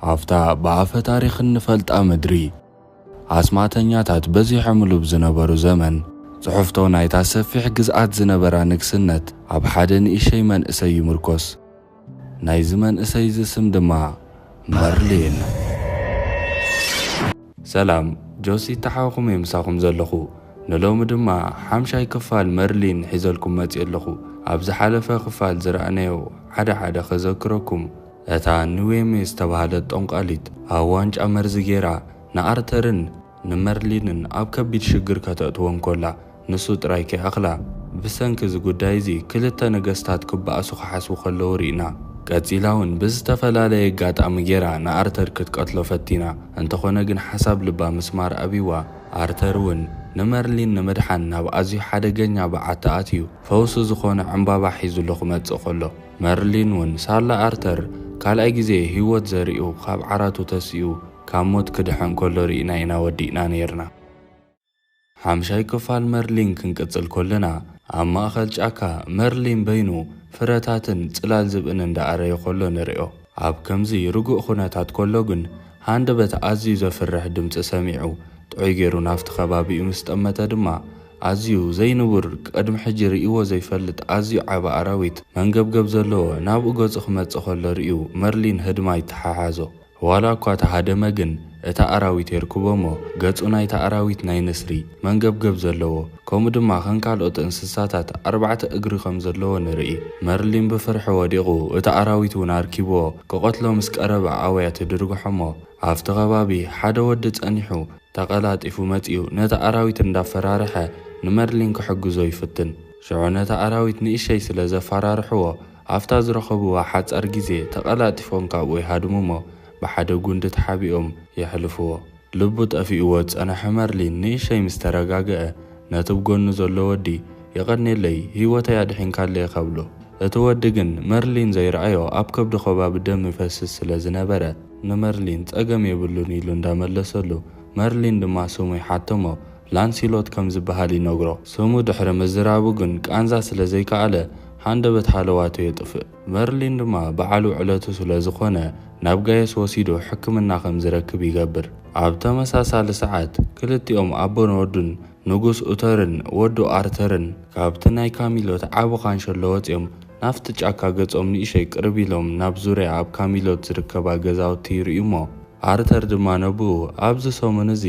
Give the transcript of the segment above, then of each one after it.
ኣብታ ብኣፈ ታሪኽ እንፈልጣ ምድሪ፣ ኣስማተኛታት በዚሖምሉ ብ ዝነበሩ ዘመን፣ ጽሑፍቶ ናይታ ሰፊሕ ግዝኣት ዝነበራ ንግስነት ኣብ ሓደ ንእሸይ መንእሰይ ይምርኮስ። ናይዚ መንእሰይ'ዚ ስም ድማ መርሊን። ሰላም ጆሲ ተሓውኹም እየ ምሳኹም ዘለኹ ንሎሚ ድማ ሓምሻይ ክፋል መርሊን ሒዘልኩም መጺኤ ኣለኹ ኣብ ዝሓለፈ ክፋል ዝረኣናዮ ሓደ ሓደ ከዘክረኩም እታ ንዌሜ ዝተባህለት ጠንቋሊት ኣብ ዋንጫ መርዚ ጌራ ንኣርተርን ንመርሊንን ኣብ ከቢድ ሽግር ከተእትዎም ኮላ ንሱ ጥራይ ከይኣኽላ ብሰንኪ እዚ ጉዳይ እዚ ክልተ ነገስታት ክበኣሱ ክሓስቡ ከለዉ ሪእና። ቀጺላ ውን ብዝተፈላለየ ኣጋጣሚ ጌራ ንኣርተር ክትቀትሎ ፈቲና እንተኾነ ግን ሓሳብ ልባ ምስማር ኣብይዋ ኣርተር ውን ንመርሊን ንምድሓን ናብ ኣዝዩ ሓደገኛ በዓቲ ኣትዩ ፈውሲ ዝኾኖ ዕንባባ ሒዙሉ ክመጽእ ኮሎ መርሊን ውን ሳላ ኣርተር ካልኣይ ግዜ ሂወት ዘሪኡ ካብ ዓራቱ ተሲኡ ካብ ሞት ክድሕን ከሎ ሪእና ኢና ወዲእና ኔርና። ሓምሻይ ክፋል መርሊን ክንቅጽል ከለና ኣብ ማእከል ጫካ መርሊን በይኑ ፍረታትን ጽላል ዝብእን እንዳ ኣረየ ከሎ ንሪኦ። ኣብ ከምዚ ርጉእ ኩነታት ከሎ ግን ሃንደበት ኣዝዩ ዘፍርሕ ድምጺ ሰሚዑ ጥዑይ ጌሩ ናብቲ ከባቢኡ ምስ ጠመተ ድማ ኣዝዩ ዘይንቡር ቅድሚ ሕጂ ርእይዎ ዘይፈልጥ ኣዝዩ ዓቢ ኣራዊት መንገብገብ ዘለዎ ናብኡ ገጹ ክመጽእ ከሎ ርእዩ መርሊን ህድማ ይተሓሓዞ ዋላ እኳ ተሃደመ ግን እታ ኣራዊት የርክቦ'ሞ ገጹ ናይታ ኣራዊት ናይ ንስሪ መንገብገብ ዘለዎ ከምኡ ድማ ከም ካልኦት እንስሳታት ኣርባዕተ እግሪ ከም ዘለዎ ንርኢ መርሊን ብፍርሒ ወዲቑ እቲ ኣራዊት ውን ኣርኪብዎ ክቐትሎ ምስ ቀረበ ኣውያ ትድርግሖ'ሞ ኣብቲ ከባቢ ሓደ ወዲ ጸኒሑ ተቐላጢፉ መጺኡ ነቲ ኣራዊት እንዳፈራርሐ ንመርሊን ክሕግዞ ይፍትን። ሽዑ ነቲ ኣራዊት ንእሸይ ስለ ዘፋራርሕዎ ኣብታ ዝረኸብዋ ሓጻር ግዜ ተቐላጢፎም ካብኡ ይሃድሙ'ሞ ብሓደ ጉንዲ ተሓቢኦም የሕልፍዎ። ልቡ ጠፊእዎ ዝጸነሐ መርሊን ንእሸይ ምስ ተረጋገኣ ነቲ ብ ጎኑ ዘሎ ወዲ የቐኔለይ ሂወተይ ኣድሒንካለይ ኢኻ ብሎ። እቲ ወዲ ግን መርሊን ዘይረኣዮ ኣብ ከብዱ ከባቢ ደም ይፈስስ ስለ ዝነበረ። ንመርሊን ጸገም የብሉን ኢሉ እንዳ መለሰሉ፣ መርሊን ድማ ስሙ ይሓተሞ ላንሲሎት ከም ዝበሃል ይነግሮ። ስሙ ድሕሪ ምዝራቡ ግን ቃንዛ ስለ ዘይከኣለ ሃንደበት ሃለዋቱ የጥፍእ። መርሊን ድማ በዓሉ ዕለቱ ስለ ዝኾነ ናብ ጋየስ ወሲዱ ሕክምና ከም ዝረክብ ይገብር። ኣብ ተመሳሳሊ ሰዓት ክልቲኦም ኣቦን ወዱን ንጉስ ኡተርን ወዱ ኣርተርን ካብቲ ናይ ካሚሎት ዓቢ ካንሸሎ ወጺኦም ናብቲ ጫካ ገጾም ንእሸይ ቅርብ ኢሎም ናብ ዙርያ ኣብ ካሚሎት ዝርከባ ገዛውቲ ይርእዩ'ሞ፣ ኣርተር ድማ ነብኡ፣ ኣብዚ ሰሙን እዚ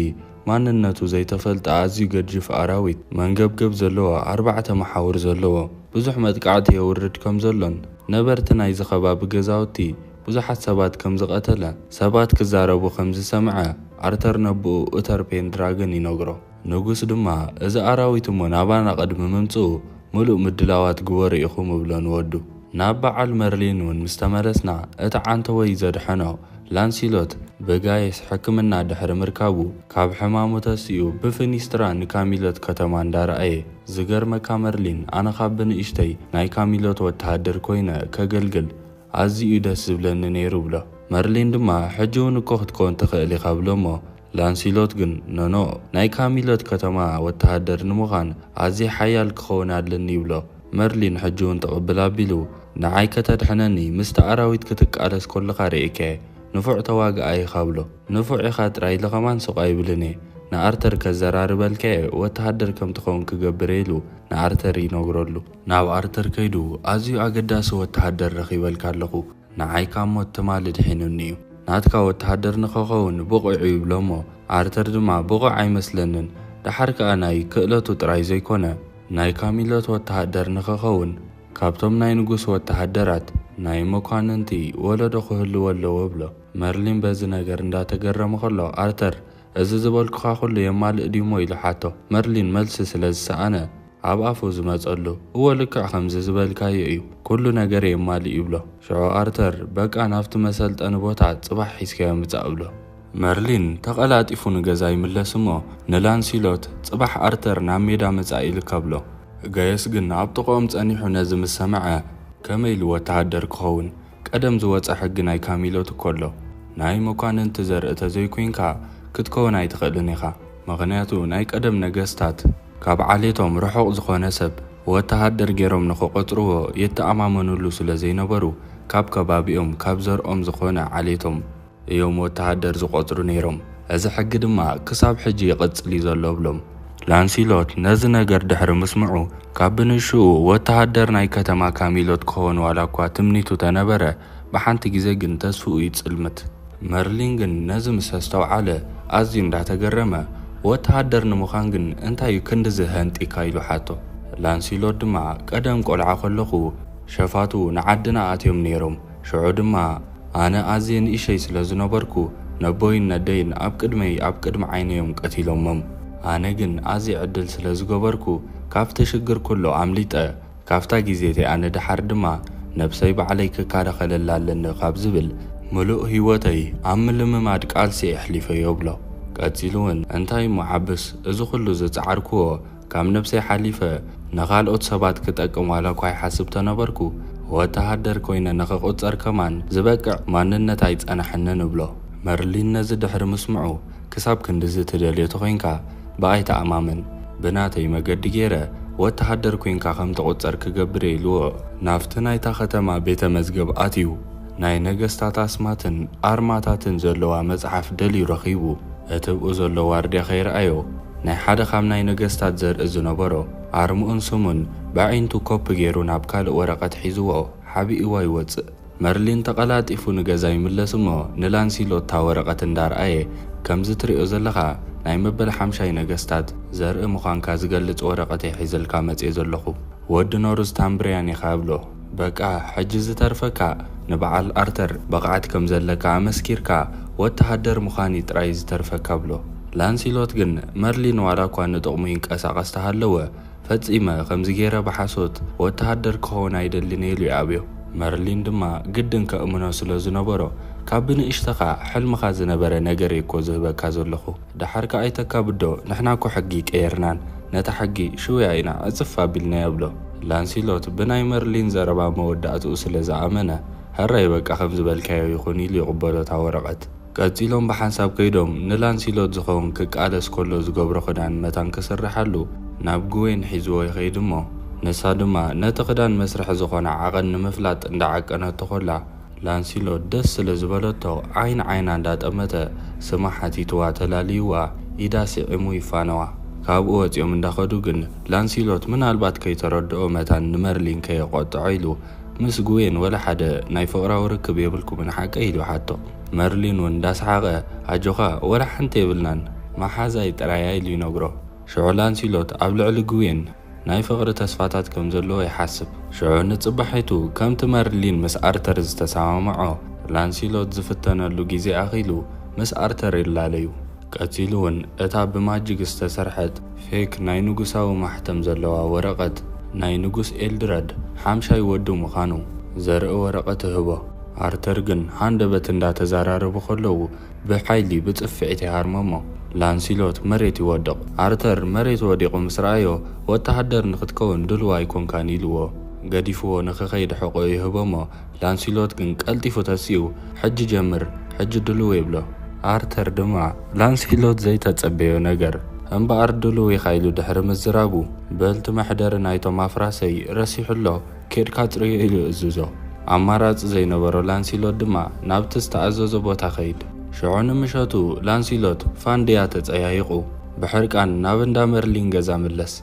ማንነቱ ዘይተፈልጠ ኣዝዩ ገጂፍ ኣራዊት፣ መንገብገብ ዘለዎ ኣርባዕተ መሓውር ዘለዎ፣ ብዙሕ መጥቃዕቲ የውርድ ከም ዘሎን ነበርቲ ናይዚ ከባቢ ገዛውቲ ብዙሓት ሰባት ከም ዝቐተለ ሰባት ክዛረቡ ከም ዝሰምዐ ኣርተር ነብኡ ኡተር ፔንድራገን ይነግሮ። ንጉስ ድማ እዚ ኣራዊት እሞ ናባና ቅድሚ ምምጽኡ ምሉእ ምድላዋት ግበሩ ኢኹም እብሎ ንወዱ። ናብ በዓል መርሊን ውን ምስ ተመለስና እቲ ዓንተቦይ ዘድሐኖ ላንሲሎት ብጋይስ ሕክምና ድሕሪ ምርካቡ ካብ ሕማሙ ተሲኡ ብፊኒስትራ ንካሚሎት ከተማ እንዳረኣየ ዝገርመካ መርሊን ኣነ ካብ ብንእሽተይ ናይ ካሚሎት ወተሃደር ኮይነ ከገልግል ኣዚዩ ደስ ዝብለኒ ነይሩ እብሎ። መርሊን ድማ ሕጂ ውን እኮ ክትከውን ትኽእል ኢኻ እብሎ እሞ ላንሲሎት ግን ኖኖ፣ ናይ ካሚሎት ከተማ ወተሃደር ንምዃን ኣዝየ ሓያል ክኸውን ኣለኒ ይብሎ። መርሊን ሕጂ'ውን ትቕብል ኣቢሉ፣ ንዓይ ከተድሕነኒ ምስቲ ኣራዊት ክትቃለስ ኮለኻ ርኤካ'የ፣ ንፉዕ ተዋጋኣይ ኢኻ ብሎ። ንፉዕ ኢኻ ጥራይ ኢለ ከማን ሱቕ ኣይብልን'የ፣ ንኣርተር ከዘራርበልካ'የ ወተሃደር ከም ትኸውን ክገብር'የ ኢሉ ንኣርተር ይነግረሉ። ናብ ኣርተር ከይዱ ኣዝዩ ኣገዳሲ ወተሃደር ረኺበልካ ኣለኹ። ንዓይ ካብ ሞት ትማሊ ኣድሒኑኒ እዩ። ናትካ ወተሃደር ንኸኸውን ብቑዕ እዩ ይብሎ እሞ ኣርተር ድማ ብቑዕ ኣይመስለንን ደሓር ከኣ ናይ ክእለቱ ጥራይ ዘይኮነ ናይ ካሚሎት ወተሃደር ንኸኸውን ካብቶም ናይ ንጉስ ወተሃደራት ናይ መኳንንቲ ወለዶ ክህልዎ ኣለዎ እብሎ። መርሊን በዚ ነገር እንዳተገረመ ከሎ ኣርተር እዚ ዝበልኩኻ ኩሉ የማልእ ድዩ እሞ ኢሉ ሓቶ። መርሊን መልሲ ስለ ዝሰኣነ። ኣብ ኣፉ ዝመጸሉ። እወ ልክዕ ከምዚ ዝበልካዮ እዩ፣ ኩሉ ነገር የማልእ ይብሎ። ሽዑ ኣርተር፣ በቃ ናብቲ መሰልጠኒ ቦታ ጽባሕ ሒዝካዮ ምጻእ እብሎ። መርሊን ተቐላጢፉ ንገዛ ይምለስ እሞ ንላንሲሎት፣ ጽባሕ ኣርተር ናብ ሜዳ ምጻእ ኢልካ እብሎ። ገየስ ግን ኣብ ጥቕኦም ጸኒሑ ነዚ ምስ ሰምዐ፣ ከመይ ኢሉ ወተሃደር ክኸውን? ቀደም ዝወጸ ሕጊ ናይ ካሚሎ ትከሎ ናይ መኳንንቲ ዘርኢ ተዘይኮይንካ ክትከውን ኣይትክእልን ኢካ ምክንያቱ ናይ ቀደም ነገስታት ካብ ዓሌቶም ርሑቅ ዝኮነ ሰብ ወተሃደር ጌሮም ንክቆጽርዎ ይተኣማመንሉ ስለዘይነበሩ ካብ ከባቢኦም ካብ ዘርኦም ዝኮነ ዓሌቶም እዮም ወተሃደር ዝቖጽሩ ነይሮም። እዚ ሕጊ ድማ ክሳብ ሕጂ ይቕጽል እዩ ዘሎ እብሎም። ላንሲሎት ነዚ ነገር ድሕሪ ምስምዑ፣ ካብ ብንእሽኡ ወተሃደር ናይ ከተማ ካሚሎት ክኸውን ዋላ እኳ ትምኒቱ ተነበረ፣ ብሓንቲ ግዜ ግን ተስፍኡ ይጽልምት። መርሊን ግን ነዚ ምስ ኣስተውዓለ ኣዝዩ እንዳ ተገረመ፣ ወተሃደር ንምዃን ግን እንታይ እዩ ክንድዚ ሃንጢካ ኢሉ ሓቶ። ላንሲሎት ድማ ቀደም ቆልዓ ከለኹ ሸፋቱ ንዓድና ኣትዮም ነይሮም፣ ሽዑ ድማ። ኣነ ኣዝየ ንእሸይ ስለ ዝነበርኩ ነቦይን ነደይን ኣብ ቅድመይ ኣብ ቅድሚ ዓይነይ እዮም ቀቲሎሞም ኣነ ግን ኣዝየ ዕድል ስለ ዝገበርኩ ካብቲ ሽግር ኩሎ ኣምሊጠ ካብታ ግዜ እቲኣ ንደሓር ድማ ነብሰይ ባዕለይ ክካላኸለላ ኣለኒ ካብ ዝብል ምሉእ ሂወተይ ኣብ ምልምማድ ቃልሲ ኤሕሊፈዮ እብሎ። ቀጺሉ ውን እንታይ እሞ ዓብስ እዚ ኩሉ ዝጻዓርክዎ ካብ ነብሰይ ሓሊፈ ንኻልኦት ሰባት ክጠቅም ዋላኳ ይሓስብ ተነበርኩ፣ ወተሃደር ኮይነ ንኽቑጸር ከማን ዝበቅዕ ማንነት ኣይጸናሕንን እብሎ። መርሊን ነዚ ድሕሪ ምስምዑ፣ ክሳብ ክንድዚ ትደልዮ ተኾይንካ ብኣይ ተኣማመን፣ ብናተይ መገዲ ገይረ ወተሃደር ኮይንካ ከም ትቑጸር ክገብር'የ ኢልዎ። ናብቲ ናይታ ከተማ ቤተ መዝገብ ኣትዩ፣ ናይ ነገስታት ኣስማትን ኣርማታትን ዘለዋ መጽሓፍ ደልዩ ረኺቡ፣ እትብኡ ዘሎ ዋርድያ ከይርኣዮ፣ ናይ ሓደ ካብ ናይ ነገስታት ዘርኢ ዝነበሮ ኣርምኡን ስሙን በዒንቱ ኮፒ ገይሩ ናብ ካልእ ወረቐት ሒዝዎ ሓቢእዎ ይወጽእ። መርሊን ተቐላጢፉ ንገዛ ይምለስ እሞ ንላንሲሎት እታ ወረቐት እንዳርኣየ ከምዚ ትርእዮ ዘለኻ ናይ መበል ሓምሻይ ነገስታት ዘርኢ ምዃንካ ዝገልጽ ወረቐት'የ ሒዘልካ መጽየ ዘለኹ ወዲ ኖርዝታምብርያን ኢኻ እብሎ። በቃ ሕጂ ዝተርፈካ ንበዓል ኣርተር ብቕዓት ከም ዘለካ ኣመስኪርካ ወተሃደር ምዃን እዩ ጥራይ ዝተርፈካ ብሎ። ላንሲሎት ግን መርሊን ዋላ እኳ ንጥቕሙ ይንቀሳቐስ ተሃለወ ፈጺመ ከምዚ ገይረ ብሓሶት ወተሃደር ክኸውን ኣይደልን ኢሉ ይኣብዮ። መርሊን ድማ ግድን ከእምኖ ስለ ዝነበሮ ካብ ብንእሽተኻ ሕልምኻ ዝነበረ ነገር እየ እኮ ዝህበካ ዘለኹ። ደሓር ከኣ ኣይተካብዶ ንሕና እኮ ሕጊ ቀይርናን ነታ ሕጊ ሽውያ ኢና ዕጽፍ ኣቢልናያ ይብሎ። ላንሲሎት ብናይ መርሊን ዘረባ መወዳእትኡ ስለ ዝኣመነ ሕራይ በቃ ከም ዝበልካዮ ይኹን ኢሉ ይቕበሎ እታ ወረቐት። ቀጺሎም ብሓንሳብ ከይዶም ንላንሲሎት ዝኸውን ክቃለስ ከሎ ዝገብሮ ክዳን መታን ክስርሓሉ ናብ ግዌን ሒዝዎ ይኸይድ እሞ ንሳ ድማ ነቲ ክዳን መስርሒ ዝኾና ዓቐን ንምፍላጥ እንዳዓቀነቶ ከላ ላንሲሎት ደስ ስለ ዝበለቶ ዓይን ዓይና እንዳጠመተ ስማ ሓቲትዋ ተላልይዋ ኢዳ ስዒሙ ይፋነዋ። ካብኡ ወጺኦም እንዳኸዱ ግን ላንሲሎት ምናልባት ከይተረድኦ መታን ንመርሊን ከየቖጥዖ ኢሉ ምስ ግዌን ወላ ሓደ ናይ ፍቕራዊ ርክብ የብልኩምን ሓቀይ ኢሉ ሓቶ። መርሊን ውን እንዳሰሓቐ ኣጆኻ ወላ ሓንቲ የብልናን መሓዛይ ጥራይ እያ ኢሉ ይነግሮ። ሽዑ ላንሲሎት ኣብ ልዕሊ ግዌን። ናይ ፍቕሪ ተስፋታት ከም ዘለዎ ይሓስብ። ሽዑ ንጽባሒቱ፣ ከምቲ መርሊን ምስ ኣርተር ዝተሰማምዖ፣ ላንሲሎት ዝፍተነሉ ግዜ ኣኺሉ ምስ ኣርተር ይላለዩ። ቀጺሉ'ውን እታ ብማጂክ ዝተሰርሐት ፌክ ናይ ንጉሳዊ ማሕተም ዘለዋ ወረቐት ናይ ንጉስ ኤልድረድ ሓምሻይ ወዱ ምዃኑ ዘርኢ ወረቐት እህቦ። ኣርተር ግን ሃንደበት እንዳተዘራረቡ ከለዉ፣ ብሓይሊ ብጽፍዒት ይሃርመሞ። ላንሲሎት መሬት ይወድቕ። ኣርተር መሬት ወዲቑ ምስ ረኣዮ፣ ወተሃደር ንኽትከውን ድሉው ኣይኮንካን ኢሉዎ፣ ገዲፉዎ ንኽኸይድ ሕቖኡ ይህቦሞ። ላንሲሎት ግን ቀልጢፉ ተሲኡ፣ ሕጂ ጀምር፣ ሕጂ ድሉው ይብሎ። ኣርተር ድማ ላንሲሎት ዘይተጸበዮ ነገር፣ እምበኣር ድሉው ኢኻ ኢሉ ድሕሪ ምዝራቡ፣ በልቲ መሕደሪ ናይቶም ኣፍራሰይ ረሲሑ ኣሎ። ኬድካ ኣጽርዮ ኢሉ እዝዞ። ኣማራጺ ዘይነበሮ ላንሲሎት ድማ ናብቲ ዝተኣዘዞ ቦታ ከይድ። ሽዑ ንምሸቱ ላንሲሎት ፋንድያ ተጸያይቑ ብሕርቃን ናብ እንዳ መርሊን ገዛ ምለስ።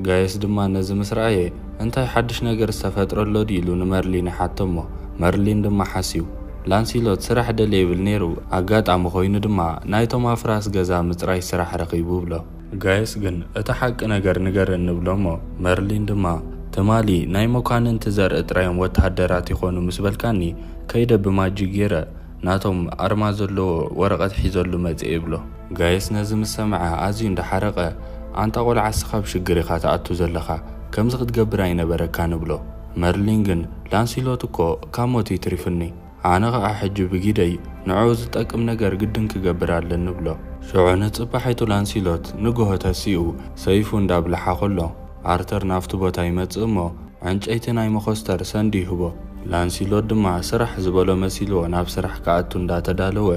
ጋየስ ድማ ነዚ ምስ ረኣየ እንታይ ሓድሽ ነገር ዝተፈጥረ ኣሎ ድዩ ኢሉ ንመርሊን ይሓቶ'ሞ መርሊን ድማ ሓስዩ ላንሲሎት ስራሕ ደልየ ይብል ነይሩ ኣጋጣሚ ኮይኑ ድማ ናይቶም ኣፍራስ ገዛ ምጽራይ ስራሕ ረኺቡ ይብሎ። ጋይስ ግን እቲ ሓቂ ነገር ንገረኒ ንብሎሞ መርሊን ድማ ትማሊ ናይ መኳንንቲ ዘርኢ ጥራዮም ወተሃደራት ይኾኑ ምስ በልካኒ ከይደ ብማጂክ ጌረ ናቶም ኣርማ ዘለዎ ወረቀት ሒዘሉ መጼ ይብሎ። ጋይስ ነዚ ምስ ሰምዐ ኣዝዩ እንዳ ሓረቀ ኣንታ ቆልዓ እስኻ ኣብ ሽግር ኢኻ ትኣቱ ዘለኻ ከምዚ ክትገብር ኣይነበረካን እብሎ መርሊን ግን ላንሲሎት እኮ ካብ ሞት እዩ ትሪፍኒ። ኣነ ኸኣ ሕጂ ብጊደይ ንዕኡ ዝጠቅም ነገር ግድን ክገብር ኣለኒ እብሎ። ሽዑ ንጽባሒቱ ላንሲሎት ንግሆ ተሲኡ ሰይፉ እንዳብልሓ ከሎ፣ ኣርተር ናብቲ ቦታ ይመጽእ እሞ ዕንጨይቲ ናይ መኾስተር ሰንድ ይህቦ። ላንሲሎት ድማ ስራሕ ዝበሎ መሲልዎ ናብ ስራሕ ክኣቱ እንዳተዳለወ፣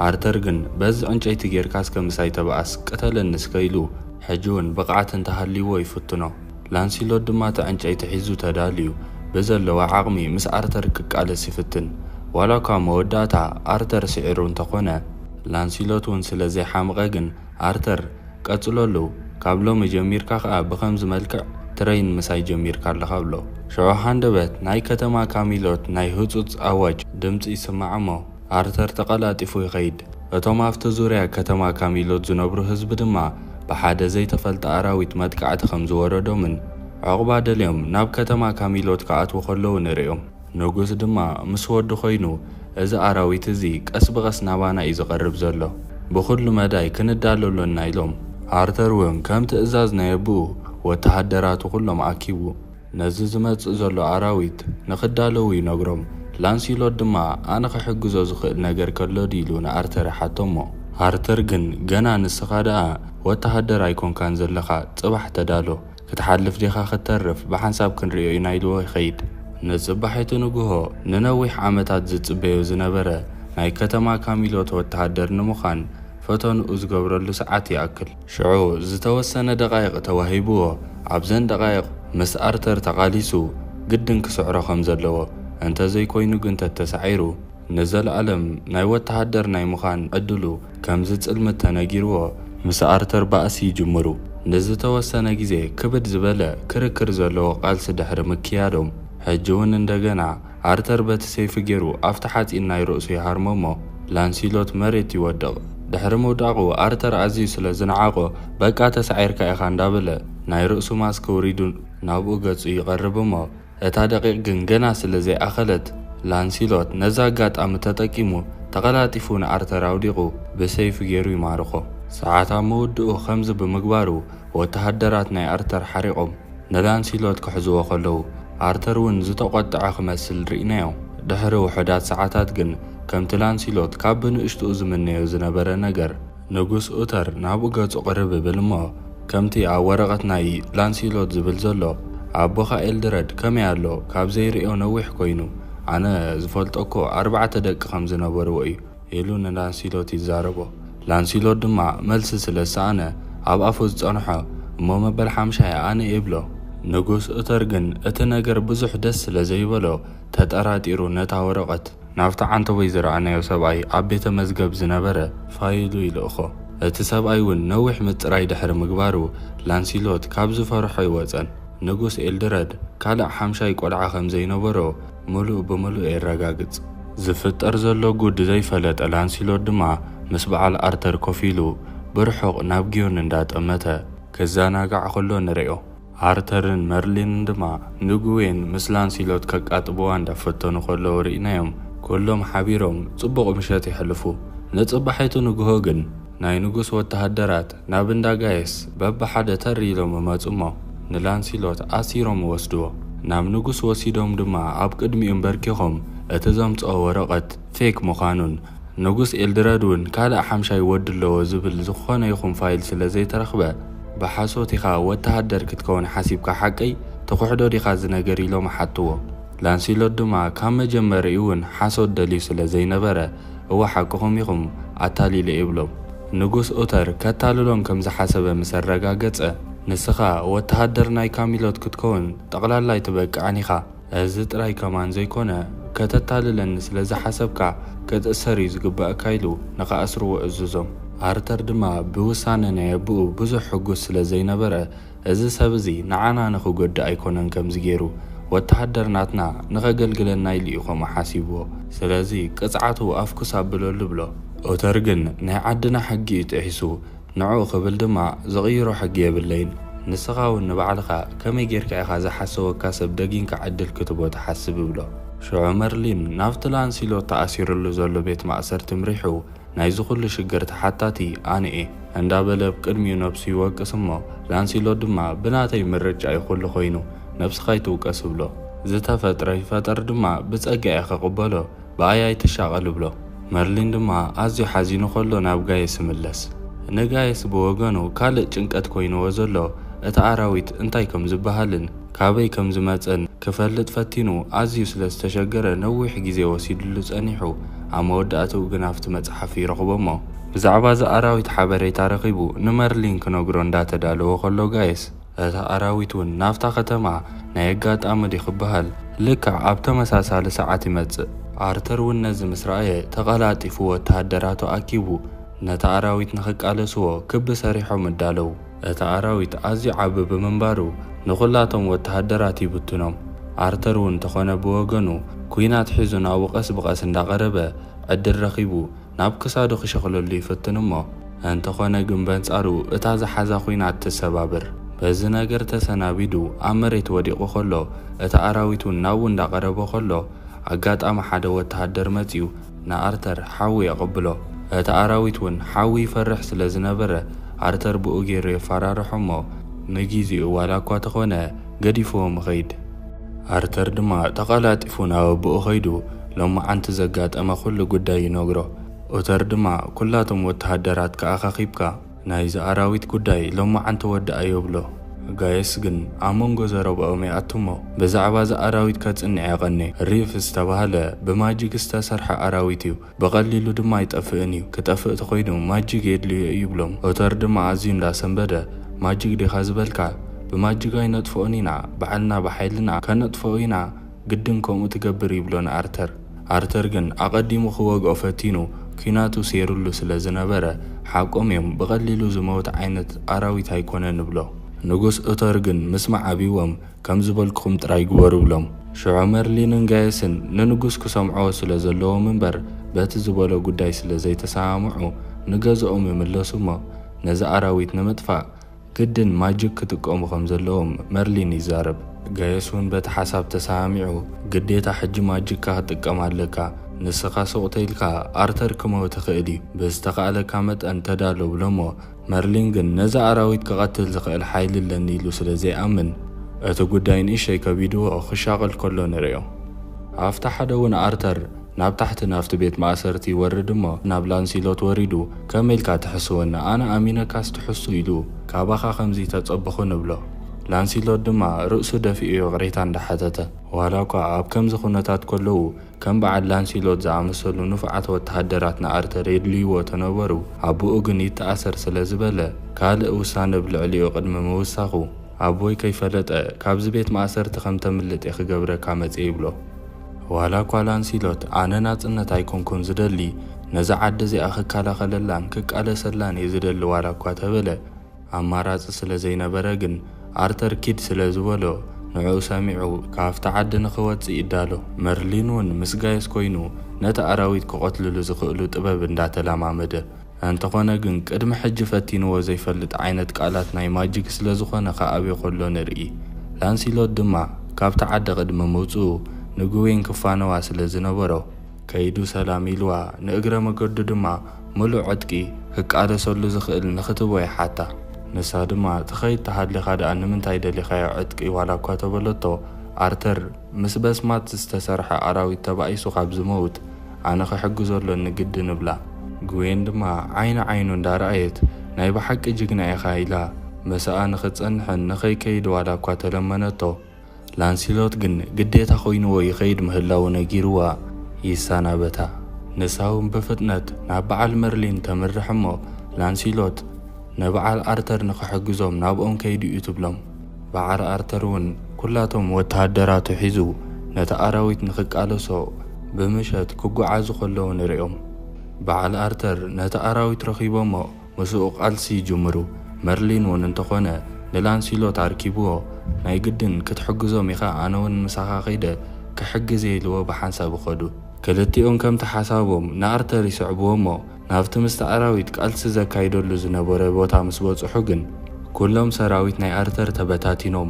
ኣርተር ግን በዚ ዕንጨይቲ ጌርካ እስከ ምሳይ ተባኣስ ቅተለኒ እስከ ኢሉ ሕጂ ውን ብቕዓት እንተሃልይዎ ይፍትኖ። ላንሲሎት ድማ እቲ ዕንጨይቲ ሒዙ ተዳልዩ ብዘለዎ ዓቕሚ ምስ ኣርተር ክቃለስ ይፍትን። ዋላኳ መወዳእታ ኣርተር ስዒሩ እንተኾነ፣ ላንሲሎት ውን ስለ ዘይሓመቐ ግን ኣርተር ቀጽለሉ ካብ ሎሚ ጀሚርካ ከኣ ብኸምዚ መልክዕ ትረይን ምሳይ ጀሚርካ ኣለኻ ብሎ። ሽዑ ሃንደበት ናይ ከተማ ካሚሎት ናይ ህጹጽ ኣዋጅ ድምጺ ይስማዕ እሞ፣ ኣርተር ተቐላጢፉ ይኸይድ፣ እቶም ኣብቲ ዙርያ ከተማ ካሚሎት ዝነብሩ ህዝቢ ድማ ብሓደ ዘይተፈልጠ ኣራዊት መጥቃዕቲ ከም ዝወረዶምን ዕቝባ ደልዮም ናብ ከተማ ካሚሎት ክኣትዉ ከለዉ ንርእዮም። ንጉስ ድማ ምስ ወዱ ዀይኑ፣ እዚ ኣራዊት እዚ ቀስ ብቐስ ናባና እዩ ዝቐርብ ዘሎ፣ ብዅሉ መዳይ ክንዳሎ ኣሎና ኢሎም። ኣርተር እውን ከም ትእዛዝ ናይ ኣቦኡ ወተሃደራቱ ዅሎም ኣኪቡ፣ ነዚ ዝመጽእ ዘሎ ኣራዊት ንኽዳለዉ ይነግሮም። ላንሲሎት ድማ ኣነ ክሕግዞ ዝኽእል ነገር ከሎ ድዩ ኢሉ ንኣርተር ይሓቶ'ሞ፣ ኣርተር ግን ገና ንስኻ ደኣ ወተሃደር ኣይኮንካን ዘለኻ፣ ጽባሕ ተዳሎ። ክትሓልፍ ዲኻ ክትተርፍ ብሓንሳብ ክንርእዮ ኢና ኢልዎ ይኸይድ። ንጽባሒቱ ንግሆ ንነዊሕ ዓመታት ዝጽበዮ ዝነበረ ናይ ከተማ ካሚሎት ወተሃደር ንምዃን ፈተንኡ ዝገብረሉ ሰዓት ይኣክል። ሽዑ ዝተወሰነ ደቓይቕ ተዋሂብዎ፣ ኣብዘን ደቓይቕ ምስ ኣርተር ተቓሊሱ ግድን ክስዕሮ ከም ዘለዎ፣ እንተ ዘይኮይኑ ግን ተተሳዒሩ ንዘልኣለም ናይ ወተሃደር ናይ ምዃን ዕድሉ ከም ዝጽልምት ተነጊርዎ፣ ምስ ኣርተር ባእሲ ይጅምሩ። ንዝተወሰነ ግዜ ክብድ ዝበለ ክርክር ዘለዎ ቃልሲ ድሕሪ ምክያዶም፣ ሕጂ'ውን እንደገና፣ ኣርተር በቲ ሰይፉ ጌሩ ኣብቲ ሓጺን ናይ ርእሱ ይሃርሞ እሞ ላንሲሎት መሬት ይወድቕ። ድሕሪ ምውዳቑ ኣርተር ኣዝዩ ስለ ዝነዓቖ በቃ ተሳዒርካ ኢኻ እንዳበለ ናይ ርእሱ ማስክ ኣውሪዱ ናብኡ ገጹ ይቐርብ እሞ እታ ደቒቕ ግን ገና ስለ ዘይኣኸለት ላንሲሎት ነዛ ኣጋጣሚ ተጠቂሙ ተቐላጢፉ ንኣርተር ኣውዲቑ ብሰይፉ ጌሩ ይማርኾ። ሰዓት ኣብ ምውድኡ ከምዚ ብምግባሩ ወተሃደራት ናይ ኣርተር ሓሪቖም። ንላንሲሎት ክሕዝዎ ከለዉ፣ ኣርተር እውን ዝተቖጥዐ ክመስል ርኢናዮ። ድሕሪ ውሑዳት ሰዓታት ግን፣ ከምቲ ላንሲሎት ካብ ብንእሽትኡ ዝምነዮ ዝነበረ ነገር፣ ንጉስ ኡተር ናብኡ ገጹ ቅርብ ይብል እሞ፣ ከምቲ ኣብ ወረቐት ናይ ላንሲሎት ዝብል ዘሎ፣ ኣቦኻ ኤልድረድ ከመይ ኣሎ፣ ካብ ዘይርእዮ ነዊሕ ኰይኑ፣ ኣነ ዝፈልጦ እኮ ኣርባዕተ ደቂ ከም ዝነበርዎ እዩ። ኢሉ ንላንሲሎት ይዛረቦ። ላንሲሎት ድማ መልሲ ስለ ዝሰኣነ ኣብ ኣፉ ዝጸንሖ እሞ መበል ሓምሻይ ኣነ ይብሎ። ንጉስ ኡተር ግን እቲ ነገር ብዙሕ ደስ ስለ ዘይበሎ ተጠራጢሩ ነታ ወረቐት ናብቲ ዓንተቦይ ዝረኣናዮ ሰብኣይ ኣብ ቤተ መዝገብ ዝነበረ ፋይሉ ይልእኮ። እቲ ሰብኣይ ውን ነዊሕ ምጽራይ ድሕሪ ምግባሩ ላንሲሎት ካብ ዝፈርሖ ኣይወጸን። ንጉስ ኤልድረድ ካልእ ሓምሻይ ቆልዓ ከም ዘይነበሮ፣ ምሉእ ብምሉእ የረጋግጽ። ዝፍጠር ዘሎ ጉድ ዘይፈለጠ ላንሲሎት ድማ ምስ በዓል ኣርተር ኮፍ ኢሉ ብርሑቕ ናብ ግዮን እንዳጠመተ ክዘናጋዕ ከሎ ንርእዮ። ኣርተርን መርሊንን ድማ ንግዌን ምስ ላንሲሎት ከቃጥብዋ እንዳፈተኑ ከለዉ ርኢናዮም። ኩሎም ሓቢሮም ጽቡቕ ምሸት የሕልፉ። ንጽባሒቱ ንግሆ ግን ናይ ንጉስ ወተሃደራት ናብ እንዳ ጋይስ በብሓደ ተር ኢሎም እመጹ'ሞ ንላንሲሎት ኣሲሮም ይወስድዎ። ናብ ንጉስ ወሲዶም ድማ ኣብ ቅድሚኡ ኣምበርኪኾም እቲ ዘምጽኦ ወረቐት ፌክ ምዃኑን ንጉስ ኤልድረድ'ውን ካልእ ሓምሻይ ወዲ ኣለዎ ዝብል ዝኾነ ይኹን ፋይል ስለ ዘይተረኽበ ብሓሶት ኢኻ ወተሃደር ክትከውን ሓሲብካ ሓቀይ ትኽሕዶ ዲኻ እዚ ነገር ኢሎም ሓቱዎ። ላንሲሎት ድማ ካብ መጀመሪኡ'ውን ሓሶት ደልዩ ስለ ዘይነበረ እወ ሓቅኹም ኢኹም፣ ኣታሊለ ይብሎም። ንጉስ ኡተር ከታልሎም ከም ዝሓሰበ ምስ ኣረጋገጸ፣ ንስኻ ወተሃደር ናይ ካሚሎት ክትከውን ጠቕላላ ኣይትበቅዕን ኢኻ። እዚ ጥራይ ከማን ዘይኮነ፣ ከተታልለኒ ስለ ዝሓሰብካ ክትእሰር እዩ ዝግበኣካ ኢሉ ንኽኣስርዎ እዙዞም። ኣርተር ድማ ብውሳነ ናይ ኣቡኡ ብዙሕ ሕጉስ ስለ ዘይነበረ፣ እዚ ሰብ እዚ ንዓና ንኽጎድእ ኣይኮነን ከምዚ ጌሩ ወተሃደር ናትና ንኸገልግለና ኢሉ እዩ ከምኡ ሓሲብዎ ስለዚ ቅጽዓቱ ኣፍኩስ ኣብለሉ እብሎ። ኦተር ግን ናይ ዓድና ሕጊ እዩ ጥሒሱ ንዕኡ ክብል ድማ ዝቕይሮ ሕጊ የብለይን ንስኻ ውን ንባዕልኻ ከመይ ጌርካ ኢኻ ዝሓሰወካ ሰብ ደጊንካ ዕድል ክትቦ ትሓስብ እብሎ። ሽዑ መርሊን ናብቲ ላንሲሎት ተኣሲርሉ ዘሎ ቤት ማእሰርቲ ምሪሑ ናይዚ ኩሉ ሽግር ተሓታቲ ኣነ እየ እንዳበለ ብ ቅድሚኡ ነብሱ ይወቅስ እሞ ላንሲሎት ድማ ብናተይ ምርጫ እዩ ኩሉ ኮይኑ ነብስካ ኣይትውቀስ እብሎ ዝተፈጥረ ይፈጠር ድማ ብጸጋ እየ ክቅበሎ ብኣይ ኣይትሻቀል እብሎ መርሊን ድማ ኣዝዩ ሓዚኑ ከሎ ናብ ጋየስ ይምለስ ንጋየስ ብወገኑ ካልእ ጭንቀት ኮይንዎ ዘሎ እቲ ኣራዊት እንታይ ከም ዝበሃልን ካበይ ከም ዝመጸን ክፈልጥ ፈቲኑ ኣዝዩ ስለ ዝተሸገረ ነዊሕ ግዜ ወሲድሉ ጸኒሑ። ኣብ መወዳእትኡ ግን ኣብቲ መጽሓፍ ይረኽቦ'ሞ ብዛዕባ እዛ ኣራዊት ሓበሬታ ረኺቡ ንመርሊን ክነግሮ እንዳተዳለወ ከሎ ጋይስ፣ እታ ኣራዊት ውን ናብታ ከተማ ናይ ኣጋጣሚ ድዩ ክበሃል ልክዕ ኣብ ተመሳሳሊ ሰዓት ይመጽእ። ኣርተር ውን ነዚ ምስ ረኣየ ተቐላጢፉ ወተሃደራቱ ኣኪቡ ነታ ኣራዊት ንኽቃለስዎ ክቢ ሰሪሖም እዳለው። እቲ ኣራዊት ኣዝዩ ዓቢ ብምንባሩ ንኹላቶም ወተሃደራት ይብትኖም። ኣርተር እውን እንተኾነ ብወገኑ ኩናት ሒዙ ናብኡ ቀስ ብቐስ እንዳቐረበ ዕድል ረኺቡ ናብ ክሳዱ ክሸኽለሉ ይፍትን እሞ እንተኾነ ግን በንጻሩ እታ ዝሓዛ ኩናት ትሰባብር። በዚ ነገር ተሰናቢዱ ኣብ መሬት ወዲቑ ከሎ እቲ ኣራዊት እውን ናብኡ እንዳቐረበ ከሎ ኣጋጣሚ ሓደ ወተሃደር መጺኡ ንኣርተር ሓዊ የቐብሎ። እቲ ኣራዊት እውን ሓዊ ይፈርሕ ስለ ዝነበረ፣ ኣርተር ብኡ ገይሩ የፈራርሖ እሞ ንጊዚኡ ዋላ እኳ ተኾነ ገዲፍዎም ይኸይድ። ኣርተር ድማ ተቐላጢፉ ናብ ኣቦኡ ከይዱ ሎማዓንቲ ዘጋጠመ ኩሉ ጉዳይ ይነግሮ። ኡተር ድማ ኩላቶም ወተሃደራትካ ኣኻኺብካ፣ ናይ ዝኣራዊት ጉዳይ ሎማዓንቲ ወዳኣዮ ብሎ ጋይስ ግን ኣብ መንጎ ዘረብኦም ይኣቱሞ ብዛዕባ ዝኣራዊት ከጽንዕ የቀኔ ሪፍ ዝተባህለ ብማጂግ ዝተሰርሐ ኣራዊት እዩ ብቀሊሉ ድማ ኣይጠፍእን እዩ ክጠፍእ ተኮይኑ ማጂግ የድልዮ እዩ ይብሎም ኦተር ድማ ኣዝዩ እንዳ ሰንበደ ማጂግ ዲካ ዝበልካ ብማጂግ ኣይነጥፍኦን ኢና ባዕልና ብሓይልና ከነጥፍኦ ኢና ግድን ከምኡ ትገብር ይብሎ ንኣርተር። ኣርተር ግን ኣቐዲሙ ክወግኦ ፈቲኑ ኲናቱ ሴሩሉ ስለ ዝነበረ ሓቆም እዮም ብቐሊሉ ዝመውት ዓይነት ኣራዊት ኣይኮነን እብሎ። ንጉስ ኡቶር ግን ምስማዕ ኣብዎም ከም ዝበልኩኹም ጥራይ ግበሩ እብሎም። ሽዑ መርሊንን ጋየስን ንንጉስ ክሰምዕዎ ስለ ዘለዎም እምበር በቲ ዝበሎ ጉዳይ ስለ ዘይተሰማምዑ ንገዝኦም ይምለሱ እሞ ነዚ ኣራዊት ንምጥፋእ ግድን ማጂክ ክጥቀሙ ከም ዘለዎም መርሊን ይዛረብ። ጋየስ ውን በቲ ሓሳብ ተሰማሚዑ፣ ግዴታ ሕጂ ማጂክካ ክትጥቀም ኣለካ፣ ንስኻ ሱቕ ተይልካ ኣርተር ክመው ትኽእል እዩ፣ ብዝተኻእለካ መጠን ተዳሎ ብሎሞ፣ መርሊን ግን ነዚ ኣራዊት ክቐትል ዝኽእል ሓይሊ ኣለኒ ኢሉ ስለ ዘይኣምን እቲ ጉዳይ ንእሽተይ ከቢድዎ ክሻቐል ከሎ ንርእዮ። ኣብቲ ሓደ ውን ኣርተር። ናብ ታሕቲ ናብቲ ቤት ማእሰርቲ ይወርድ እሞ ናብ ላንሲሎት ወሪዱ ከመይ ኢልካ ትሕስወኒ ኣነ ኣሚነካስ ትሕሱ ኢሉ ካባኻ ከምዚ ተጸበኹ ንብሎ ላንሲሎት ድማ ርእሱ ደፊኡ ይቕሬታ እንዳ ሓተተ ዋላኳ ኣብ ከምዚ ኩነታት ከለዉ ከም በዓል ላንሲሎት ዝኣመሰሉ ንፉዓት ወተሃደራት ንኣርተር የድልይዎ ተነበሩ ኣቡኡ ግን ይተኣሰር ስለ ዝበለ ካልእ ውሳነ ብ ልዕሊኡ ቅድሚ ምውሳኹ ኣቦይ ከይፈለጠ ካብዚ ቤት ማእሰርቲ ከም ተምልጥ እየ ክገብረካ መጽየ ይብሎ። ዋላ ጓል ኣንሲሎት ኣነ ናጽነት ኣይኮንኩን ዝደሊ ነዛ ዓዲ እዚኣ ክከላኸለላን ክቃለሰላን እየ ዝደሊ ዋላ እኳ ተበለ ኣማራጺ ስለ ዘይነበረ ግን ኣርተር ኪድ ስለ ዝበሎ ንዕኡ ሰሚዑ ካብቲ ዓዲ ንኽወጽእ ይዳሎ መርሊን ውን ምስ ጋየስ ኮይኑ ነቲ ኣራዊት ክቐትልሉ ዝኽእሉ ጥበብ እንዳተላማመደ ኣንተኾነ ግን ቅድሚ ሕጂ ፈቲንዎ ዘይፈልጥ ዓይነት ቃላት ናይ ማጂክ ስለ ዝኾነ ክኣብዮ ከሎ ንርኢ። ላንሲሎት ድማ ካብታ ዓዲ ቅድሚ ምውጽኡ ንግዌን ክፋነዋ ስለ ዝነበሮ ከይዱ ሰላም ኢልዋ ንእግረ መገዱ ድማ ምሉእ ዕጥቂ ክቃለሰሉ ዝኽእል ንኽትቦ ይሓታ። ንሳ ድማ ትኸይድ ተሃሊኻ ደኣ ንምንታይ ደሊኻዮ ዕጥቂ ዋላ እኳ ተበለቶ ኣርተር ምስ በስማት ዝተሰርሐ ኣራዊት ተባኢሱ ካብ ዝመውት ኣነ ክሕግዞ ኣሎኒ ግድን እብላ። ግዌን ድማ ዓይኒ ዓይኑ እንዳ ረኣየት ናይ ብሓቂ ጅግና ኢኻ ኢላ ምሳኣ ንኽትጸንሕን ንኸይከይድ ዋላ እኳ ተለመነቶ፣ ላንሲሎት ግን ግዴታ ኮይንዎ ይኸይድ ምህላዉ ነጊርዋ ይሰናበታ። ንሳውን ብፍጥነት ናብ በዓል መርሊን ተምርሕ እሞ ላንሲሎት ንብዓል ኣርተር ንኽሕግዞም ናብኦም ከይዱ እዩ ትብሎም። በዓር ኣርተር ውን ኩላቶም ወተሃደራቱ ሒዙ ነቲ ኣራዊት ንኽቃለሶ ብምሸት ክጉዓዙ ከለዉ ንሪኦም። በዓል ኣርተር ነቲ ኣራዊት ረኺቦሞ ምስኡ ቃልሲ ይጅምሩ። መርሊን ውን እንተኾነ ንላንሲሎት ኣርኪብዎ ናይ ግድን ክትሕግዞም ኢኻ ኣነ ውን ምሳኻ ከይደ ክሕግዝየ ኢልዎ ብሓንሳብ ይኸዱ። ክልቲኦም ከምቲ ሓሳቦም ንኣርተር ይስዕብዎሞ ናብቲ ምስቲ ኣራዊት ቃልሲ ዘካይደሉ ዝነበረ ቦታ ምስ በጽሑ ግን፣ ኩሎም ሰራዊት ናይ ኣርተር ተበታቲኖም፣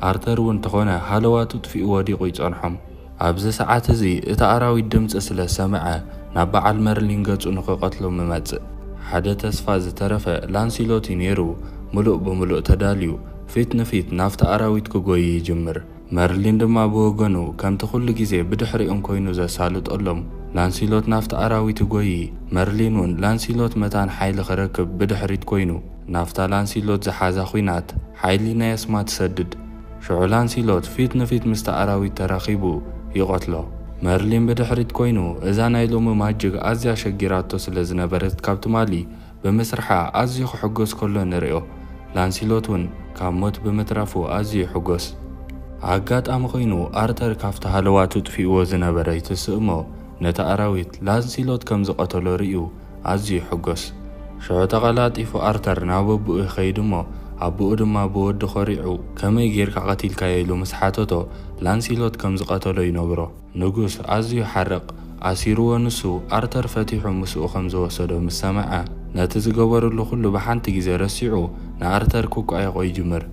ኣርተር እውን ተኾነ ሃለዋቱ ጥፊኡ ወዲቑ ይጸንሖም። ኣብዚ ሰዓት እዚ እቲ ኣራዊት ድምጺ ስለ ዝሰምዐ፣ ናብ በዓል መርሊን ገጹ ንክቐትሎም ይመጽእ። ሓደ ተስፋ ዝተረፈ ላንሲሎት እዩ ነይሩ፣ ምሉእ ብምሉእ ተዳልዩ፣ ፊት ንፊት ናብቲ ኣራዊት ክጎዪ ይጅምር። መርሊን ድማ ብወገኑ፣ ከምቲ ኩሉ ግዜ ብድሕሪኦም ኰይኑ ዘሳልጦሎም፣ ላንሲሎት ናብቲ ኣራዊት ይጐዪ። መርሊን እውን ላንሲሎት መታን ሓይሊ ክረክብ ብድሕሪት ኰይኑ ናብታ ላንሲሎት ዝሓዛ ኲናት ሓይሊ ናይ ኣስማት ይሰድድ። ሽዑ ላንሲሎት ፊት ንፊት ምስቲ ኣራዊት ተራኺቡ ይቐትሎ። መርሊን ብድሕሪት ኰይኑ እዛ ናይ ሎሚ ማጅግ ኣዝያ ሸጊራቶ ስለ ዝነበረት ካብ ትማሊ ብምስርሓ ኣዝዩ ክሕጎስ ከሎ ንርእዮ። ላንሲሎት እውን ካብ ሞት ብምትራፉ ኣዝዩ ይሕጎስ። ኣጋጣሚ ኮይኑ ኣርተር ካብቲ ሃለዋቱ ኣጥፊእዎ ዝነበረ ይትስእ'ሞ ነቲ ኣራዊት ላንሲሎት ከም ዝቐተሎ ርእዩ ኣዝዩ ይሕጎስ። ሽዑ ተቐላጢፉ ኣርተር ናብ ኣቡኡ ይኸይድ'ሞ ኣቡኡ ድማ ብወዱ ኮሪዑ ከመይ ጌርካ ቀቲልካዮ ኢሉ ምስ ሓተቶ ላንሲሎት ከም ዝቐተሎ ይነግሮ። ንጉስ ኣዝዩ ሓርቕ። ኣሲሩዎ ንሱ ኣርተር ፈቲሑ ምስኡ ከም ዝወሰዶ ምስ ሰምዐ፣ ነቲ ዝገበርሉ ዅሉ ብሓንቲ ግዜ ረሲዑ ንኣርተር ክቋየቖ ይጅምር።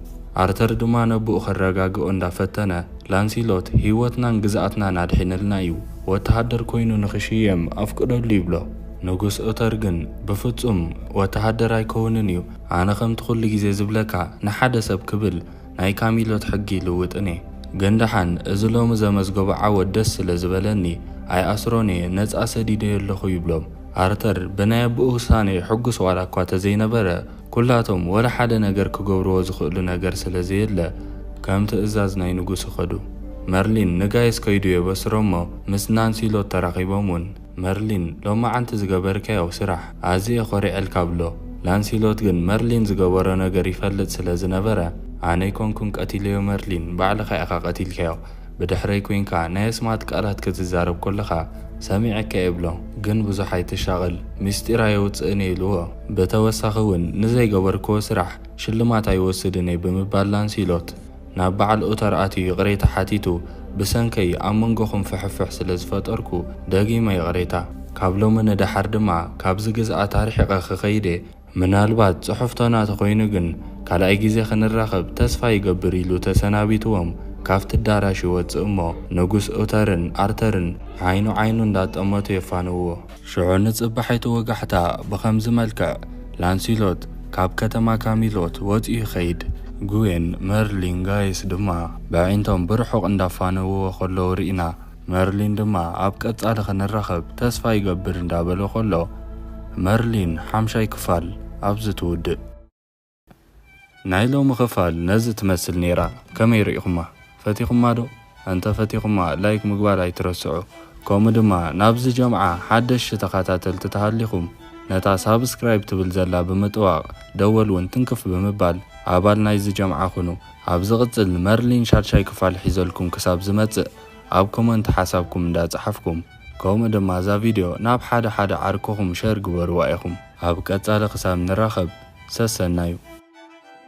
ኣርተር ድማ ነቦኡ ከረጋግኦ እንዳ ፈተነ፣ ላንሲሎት ህይወትናን ግዝኣትናን ኣድሒንልና እዩ፣ ወተሃደር ኰይኑ ንኽሽየም ኣፍቅደሉ ይብሎ። ንጉስ ኦተር ግን ብፍጹም ወተሃደር ኣይከውንን እዩ፣ ኣነ ከምቲ ኵሉ ግዜ ዝብለካ ንሓደ ሰብ ክብል ናይ ካሚሎት ሕጊ ልውጥን እየ ግን ደሓን እዚ ሎሚ ዘመዝገቦ ዓወት ደስ ስለ ዝበለኒ ኣይኣስሮን እየ ነጻ ሰዲደዮ ኣለኹ ይብሎም ኣርተር ብናይ ኣቡኡ ውሳኔ ሕጉስ ዋላ እኳ ተዘይነበረ ኩላቶም ወላ ሓደ ነገር ክገብርዎ ዝኽእሉ ነገር ስለ ዘየለ ከም ትእዛዝ ናይ ንጉስ ይኸዱ መርሊን ንጋይስ ከይዱ የበስሮሞ ምስ ናንሲሎት ተራኺቦም ውን መርሊን ሎማዓንቲ ዝገበርካዮ ስራሕ ኣዚየ ኮሪዐልካ ብሎ ላንሲሎት ግን መርሊን ዝገበሮ ነገር ይፈልጥ ስለ ዝነበረ ኣነ ኣይኮንኩን ቀቲለዮ መርሊን ባዕልካ ኢካ ቀቲልካዮ ብድሕረይ ኮይንካ ናይ ኣስማት ቃላት ክትዛረብ ኮለካ ሰሚዐካ እየ ብሎ ግን ብዙሕ ኣይትሻቀል ሚስጢር ኣየውጽእን እየ ኢልዎ ብተወሳኪ ውን ንዘይገበርክዎ ስራሕ ሽልማት ኣይወስድን እየ ብምባል ላንሲሎት ናብ በዓል ኡተር ኣትዩ ይቕሬታ ሓቲቱ፣ ብሰንከይ ኣብ መንጎኹም ፍሕፍሕ ስለ ዝፈጠርኩ ደጊመ ይቕሬታ። ካብ ሎሚ ንደሓር ድማ ካብዚ ግዝኣት ኣርሒቐ ክኸይድ'የ፣ ምናልባት ጽሑፍቶና ተኾይኑ ግን ካልኣይ ግዜ ክንራኸብ ተስፋ ይገብር ኢሉ ተሰናቢትዎም ካብቲ ኣዳራሽ ይወጽእ'ሞ ንጉስ ኡተርን ኣርተርን ዓይኑ ዓይኑ እንዳጠመቱ የፋንውዎ። ሽዑ ንጽባሒቱ ወጋሕታ ብኸምዚ መልክዕ ላንሲሎት ካብ ከተማ ካሚሎት ወጺኡ ይኸይድ፣ ግዌን፣ መርሊን፣ ጋይስ ድማ በዒንቶም ብርሑቕ እንዳፋነውዎ ከለዉ ርኢና፣ መርሊን ድማ ኣብ ቀጻሊ ክንራኸብ ተስፋ ይገብር እንዳበለ ከሎ መርሊን ሓምሻይ ክፋል ኣብዚ ትውድእ። ናይ ሎሚ ክፋል ነዚ ትመስል ኔራ ከመይ ሪኢኹማ ፈቲኹማ ዶ ኣንተ ፈቲኹማ ላይክ ምግባር ኣይትረስዑ ከምኡ ድማ ናብዚ ጀምዓ ሓደሽቲ ተኻታተልቲ ተሃሊኹም ነታ ሳብስክራይብ ትብል ዘላ ብምጥዋቕ ደወል ውን ትንክፍ ብምባል ኣባል ናይዚ ጀምዓ ኩኑ ኣብ ዝቕጽል መርሊን ሻድሻይ ክፋል ሒዘልኩም ክሳብ ዝመጽእ ኣብ ኮመንት ሓሳብኩም እንዳ ጸሓፍኩም ከምኡ ድማ እዛ ቪድዮ ናብ ሓደ ሓደ ዓርክኹም ሸር ግበርዋ ኢኹም። ኣብ ቀጻሊ ክሳብ ንራኸብ ሰሰናዩ።